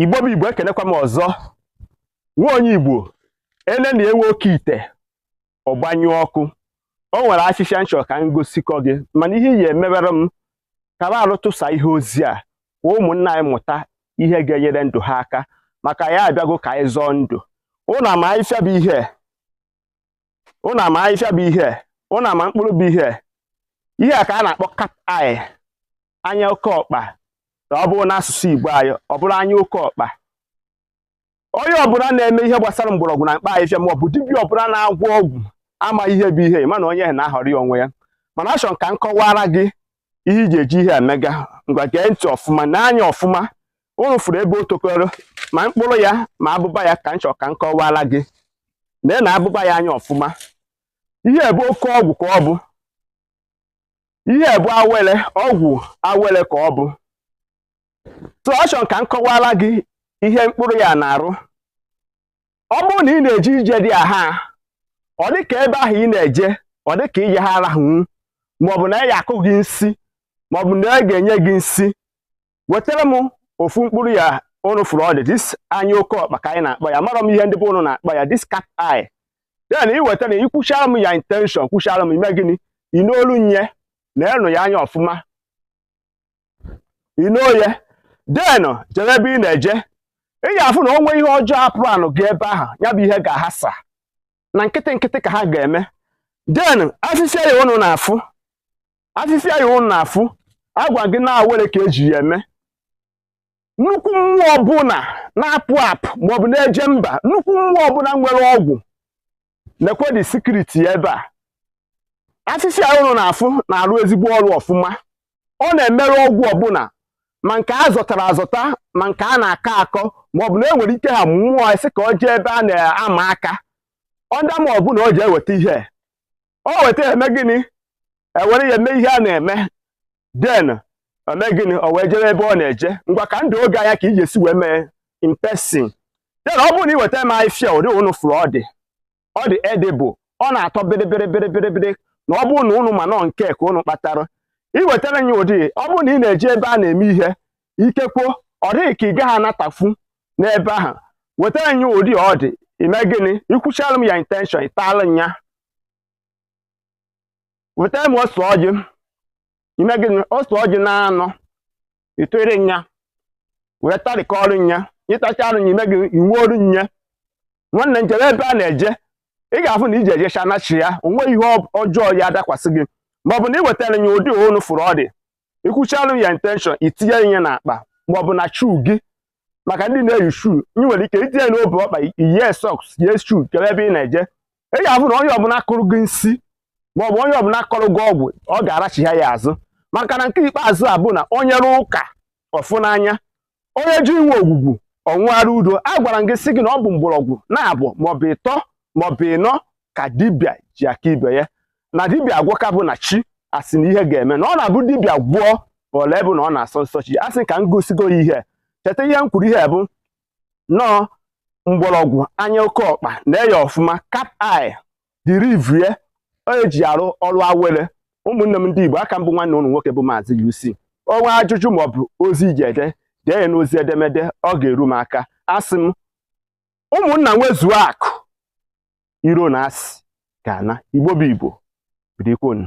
igbo bụ igbo ekenekwa m ọzọ nwa onye igbo elelịa nwa oke ite ọ gbanyụọ ọkụ o nwere afịfịa m chọ ka m gosikọ gị mana ihe ị ya-emebere m ka m arụtụsa ihe ozi a ka ụmụnna anyị mụta ihe ga-enyere ndụ ha aka maka ya abịago ka anyị zọọ ndụ ụnụ ama afịfịa bụ ihe ụnụ ama afịfịa bụ ihe ụnụ ama mkpụrụ bụ ihe ihe a ka a na-akpọ cat eye anya oke ọkpa ọ bụrụ n'asụsụ Igbo anyị ọ bụrụ anya oke ọkpa onye ọbụla na-eme ihe gbasara mgbọrọgwụ na mkpa afịfịa ma ọ bụ dibịa ọbụla na-agwọ ọgwụ ama ihe bụ ihe mana onye na-ahọrọ ya onwe ya mana achọrọ m ka m kọwara gị ihe iji eji ihe emega ngwa gee ntị ọfụma nee anya ọfụma ụnụ fụrụ ebe o tokoro ma mkpụrụ ya ma abụba ya ka m chọrọ ka m kọwara gị lee na abụba ya anya ọfụma ihe bụ oke ọgwụ ka ọ bụ ihe bụ awele ọgwụ awele ka ọ bụ so achọrọ ka m kọwara gị ihe mkpụrụ ya na-arụ ọ bụrụ na ị na-eje ije dị aha ọ dị ka ebe ahụ ị na-eje ọ dị ka ije ha arahụwu maọbụ na a ya-akụ gị nsi maọbụ na a ga-enye gị nsi wetara m ofu mkpụrụ ya ụnụ fụrụ ọ dị this anya oke ọkpa ka anyị na-akpọ ya amarọ m ihe ndị be ụnụ na-akpọ ya this cat eye then ị wetara ya i kwuchara m ya intention kwuchara m ime gịnị i nolu nya nenee ya anya ọfụma i noo ya then jere ebe ị na-eje ị ga-afụ na o nweghị ihe ọjọọ apụrụ anụ gị ebe ahụ ya bụ ihe ga-ahasa na nkịtị nkịtị ka ha ga-eme then afịfịa ya ụnụ na-afụ afịfịa ya ụnụ na-afụ agwa gị na awele ka eji ya eme nnukwu mmụọ ọbụla na-apụ apụ maọbụ na-eje mba nnukwu mmụọ ọbụla nwere ọgwụ nekwe the secret ebe a afịfịa ya ụnụ na-afụ na-arụ ezigbo ọrụ ọfụma ọ na-emerụ ọgwụ ọbụla ma nke a zọtara azọta ma nke a na-akọ akọ ma ọ bụ na e nwere ike ha mmụọ sị ka ọ jee ebe a na-ama aka ọnda ma ọ bụ na ọ je iweta ihe o weta eme gịnị ewere ya eme ihe a na-eme then eme gịnị o wee jebe ebe ọ na-eje ngwa ka ndụ oge anya ka ị ya-esi wee mee in person then ọ bụrụ na ị weta m afịfịa ụdị ụnụ fụrụ ọ dị ọ dị edible ọ na-atọ bịrịbịrịbịrịbịrị na ọ bụrụ na ụnụ ma nọ nke ka ụnụ kpatara ị wetara ya ụdị ọ bụrụ na ị na-eje ebe a na-eme ihe ikekwo ọ dị gị ka ị gaghị anatafu n'ebe ahụ wetara nya ụdị ọ dị ime gịnị i kwuchala m ya intention ị tala ya weta m ose ọjị ime gịnị ose ọjị na anọ ịtụrụ nya wee tarịkọrọ nya ị tachara nya ime gịnị iwu ọrụ nya nwanne jere ebe ị na-eje ị ga-afụ na ị ya-ejecha nachi ya o nweghị ihe ọjọọ ya-adakwasị gị ma ọ bụ na ị wetara ya ụdị ụnụ fụrụ ọ dị ikwuchalụ ya intention itinye ya n'akpa ma ọ bụ na shuu gị maka ndị na-eyi shuu ị nwere ike itinye n'ọbụ ọkpa iyie sọks yie shuu jewe ebe ị na-eje ị ga-afụ na onye ọbụla kọrọ gị nsi ma ọ bụ onye ọbụla kọrọ gị ọgwụ ọ ga-arachigha ya azụ maka na nke ikpeazụ a bụ na onye rụọ ụka ọ fụ n'anya onye ji inwe ogwugwu ọnwụghara udo a gwara m gị sị gị na ọ bụ mgbọrọgwụ naabụ maọbụ ịtọ maọbụ ịnọ ka dibịa ji aka ibe ya na dibịa agwọka bụ na chi asị na ihe ga-eme na ọ na-abụ dibịa gwọọ o lee bụ na ọ na-asọ nsọ chi asị ka m gosigo ya ihe cheta ihe m kwuru ihe bụ nọọ mgbọrọgwụ anya oke ọkpa nee ya ọfụma cat eye dịrị ive eji arụ ọrụ awele ụmụnne m ndị Igbo aka m bụ nwanne ụnụ nwoke bụ Maazị UC o nwee ajụjụ maọbụ ozi i ji ede dee ya n'ozi edemede ọ ga-eru m aka asị m ụmụnna nwezuo akụ iro na asị ga-ana Igbo bụ Igbo bidikonu